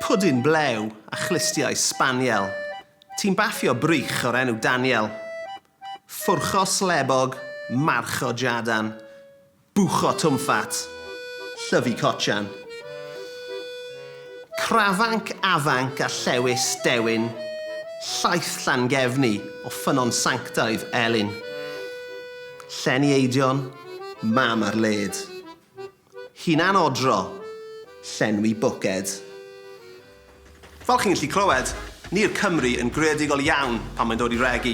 Pwdin blew a chlustiau sbaniel. Ti'n baffio brych o'r enw Daniel. Ffwrcho slebog, marcho jadan. Bwcho twmffat, llyfu cotsian. Crafanc afanc a llewys dewin. Llaeth Llangefni o ffynnon sanctaidd Elin. Llenni eidion, mam ar led. Hunanodro, llenwi bwced. Fel chi'n gallu clywed, ni'r Cymry yn greadigol iawn pan mae'n dod i regi,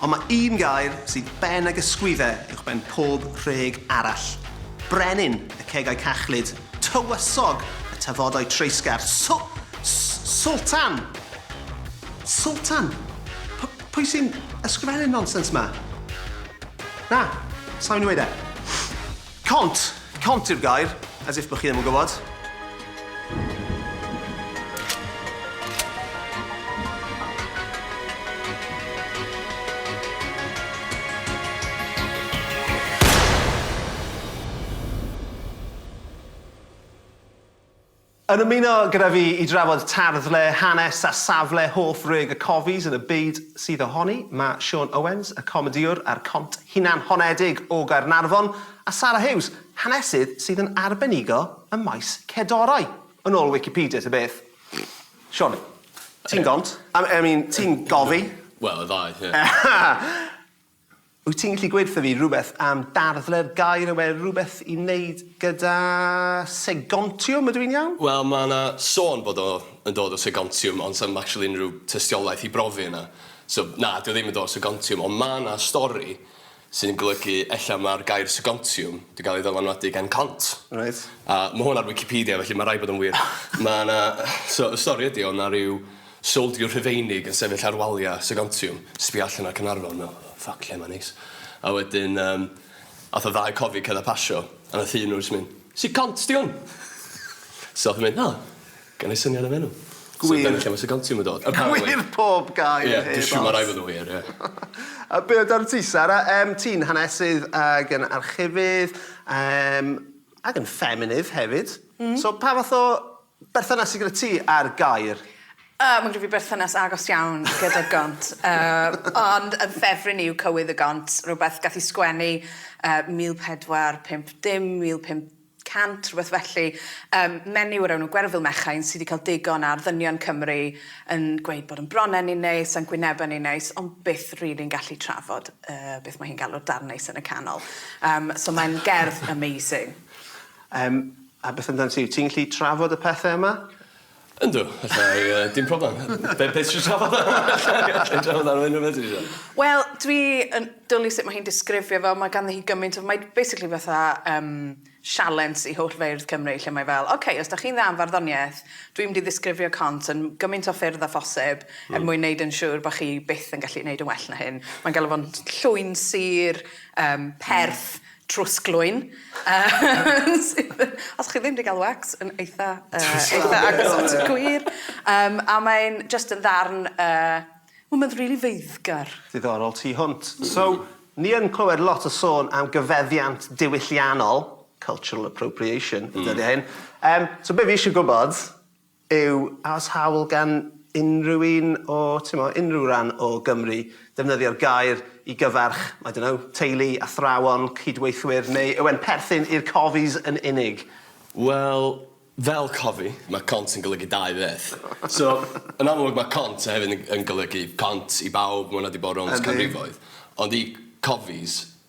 ond mae un gair sydd ben ag ysgwyddau uwchben pob rheg arall. Brenin y cegau cachlyd, tywysog y tafodau treisgar, Sw-! S-! Swltan! Swltan? P-! Pwy sy'n ysgrifennu'r nonsens 'ma? Na, sa i'n 'weud e. Cont! Cont yw'r gair, as if bo' chi ddim yn gwybod. Yn ymuno gyda fi i drafod tarddle, hanes a safle hoff rug y cofis yn y byd sydd ohoni, mae Siôn Owens, y comedïwr ar cont hunanhonedig o Gaernarfon, a Sara Hughes, hanesydd sydd yn arbenigo ym maes cedorau, yn ôl Wikipedia ta beth. Siôn, ti'n gont, I mean, ti'n gofi. Wel, y ddau, ie. Wyt ti'n gallu gweud wrtho fi rhywbeth am darddle'r gair yw e rhywbeth i wneud gyda segontiwm ydw i'n iawn? Wel mae yna sôn bod o yn dod o segontiwm ond sa'm actually unrhyw tystiolaeth i brofi hynna so na 'di o ddim yn dod o segontiwm ond mae yna stori sy'n golygu ella mae'r gair segontiwm 'di gael ei ddylanwadu gan cont. Reit. A ma' hwn ar wicipedia felly ma' raid bod o'n wir. Ma' 'na so y stori ydi o' 'na ryw Soldier Rhufeinig yn sefyll ar waliau Sir Antium, sbio allan ar Caernarfon, meddwl, oh fuck, lle mae'n neis. A wedyn, um, ath y ddau cofi cedd a pasio, a nath un nhw jyst mynd, Sir Cont di hwn! so ath yn mynd, oh, gan ei syniad am enw. Gwir. So dyna lle mae Sir Contium yn dod. Gwir pob gair yeah, heb os. Ie, mae rai fod yn wir, ie. a be amdano ti, Sara? Um, ti'n hanesydd ag yn archifydd, um, ag yn ffeminydd hefyd. Mm. So pa fath o Berthynas gyda ti a'r gair? O, mae gyda fi berthynas agos iawn gyda'r gont. Yy, ond yn ffefryn i yw Cywydd y Gont, rhywbeth gath i sgwennu yy 1450, 1500, rhywbeth felly. Yym, menyw o'r enw Gwerfyl Mechain sydd wedi cael digon ar ddynion Cymru yn gweud bod yn bronnau ni'n neis a'n gwynebau ni'n neis, ond byth rili'n gallu trafod yy beth mae hi'n galw'r darn neis yn y canol. Yym, so mae'n gerdd amazing. Yym. A beth amdanat ti? Wyt ti'n gallu trafod y pethau yma? Yndw, alla i, yy, dim problem. Be' be' tisio trafod? Alla i alla i trafod am unryw beth ti isio. Wel, dwi yn dwli sut ma' hi'n disgrifio fo, ma' ganddi hi gymaint o... Mae basically fatha, yym, sialens i holl feirdd Cymru lle mae fel, ok, os 'dach chi'n dda am farddoniaeth, dwi mynd i ddisgrifio cont yn gymaint o ffyrdd â phosib er mwyn neud yn siŵr bo' chi byth yn gallu neud yn well na hyn. Mae'n galw fo'n llwyn sur, yym, perth, trwsglwyn yym sydd yn... Os chi ddim 'di ga'l wax yn eitha yy... Trwsglwyn. ...eitha agos at y gwir yym a mae'n jyst yn ddarn yy wel ma'n rili feiddgar. Diddorol tu hwnt. So, ni yn clywed lot o sôn am gyfeddiant diwylliannol, cultural appropriation, y dyddie hyn. Yym, so be' fi isie gwbod Yw oes hawl gan unrhyw un o, timod, unrhyw ran o Gymru ddefnyddio'r gair i gyfarch, I don't know, teulu, athrawon, cydweithwyr, neu yw e'n perthyn i'r Cofies yn unig? Wel, fel cofi, mae cont yn golygu dau beth. So, yn amlwg mae cont hefyd yn yn golygu cont i bawb, ma' hwnna 'di bod rownd canrifoedd. Ond i Cofies,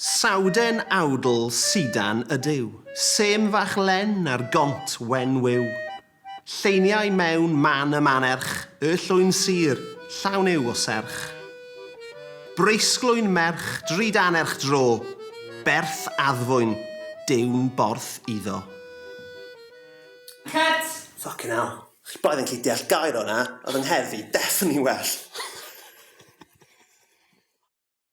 Sawden awdl sidan ydyw. Sêm fach len ar gont wen wyw. Lleiniau mewn man y manerch. Y llwyn sur, llawn yw o serch. Breisglwyn merch drud anerch dro. Berth addfwyn, diwn borth iddo. Cut! Ffycin hel. Chi braidd yn gallu deall gair o 'na, oedd yng ngheddf i definitely well.